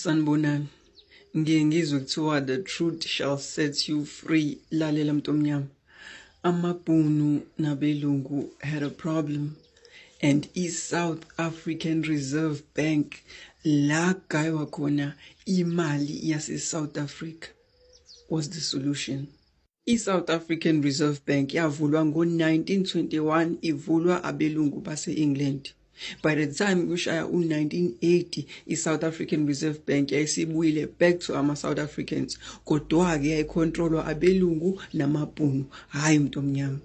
Sanibonani. Ngiye ngizwe kuthiwa the truth shall set you free. Lalela mntu omnyama. Amabhunu nabelungu had a problem and i-South African Reserve Bank la gaywa khona imali yase-South Africa was the solution. I-South African Reserve Bank yavulwa ngo-1921 ivulwa abelungu base-England. By the time kushaya u-1980 i-South African Reserve Bank yayisibuyile back to ama-South Africans kodwa-ke yayikhontrolwa abelungu namabhunu hhayi umuntu omnyama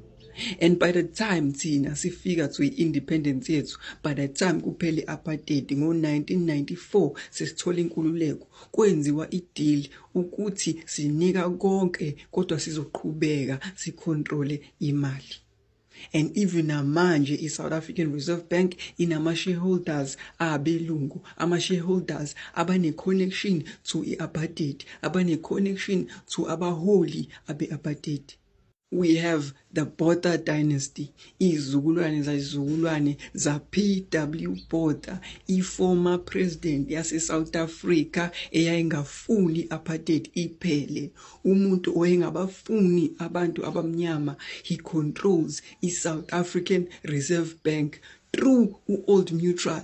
and by the time thina sifika to i-independence yethu by the time kuphela i-apartheid ngo-1994 sesithola inkululeko kwenziwa idili ukuthi sinika konke kodwa sizoqhubeka sicontrole imali and even namanje iSouth African Reserve Bank inama shareholders abelungu ama shareholders abane connection to iapartheid abane connection to abaholi abeapartheid We have the Botha dynasty, izizukulwane zazizukulwane za PW Botha, i-former president yase-South Africa eyayingafuni apartheid iphele. Umuntu oyengabafuni abantu abamnyama, he controls i-South African Reserve Bank through u-Old Mutual.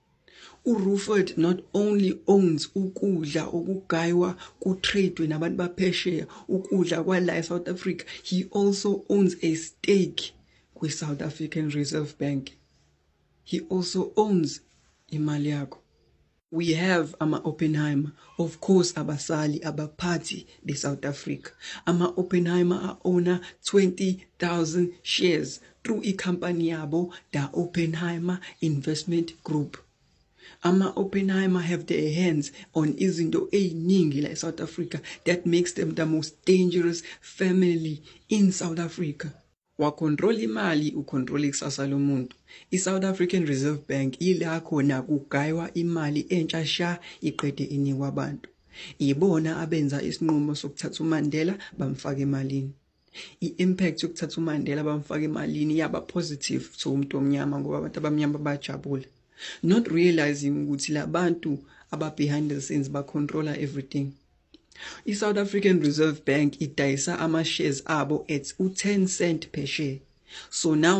URuford not only owns ukudla okugaywa kutradwe nabantu baphesheya ukudla kwala eSouth Africa he also owns a stake kwiSouth African Reserve Bank he also owns imali yakho we have ama-oppenheimer of course abasali abaphathi besouth africa ama-oppenheimer a-owner 20000 shares through ikhampani yabo da Oppenheimer Investment Group. Ama Oppenheimer have their hands on izinto eziningi la eSouth Africa that makes them the most dangerous family in South Africa. Wa control imali u control ikusasa lomuntu. I South African Reserve Bank ila khona kugaywa imali entsha sha iqede inikwa abantu. Ibona abenza isinqumo sokuthatha uMandela bamfaka emalini. i-impact yokuthatha uMandela bamfaka emalini yaba positive to umuntu omnyama ngoba abantu abamnyama bajabula not realizing ukuthi labantu aba behind the scenes ba controller everything i-South African Reserve Bank idayisa ama shares abo at u10 cent per share so now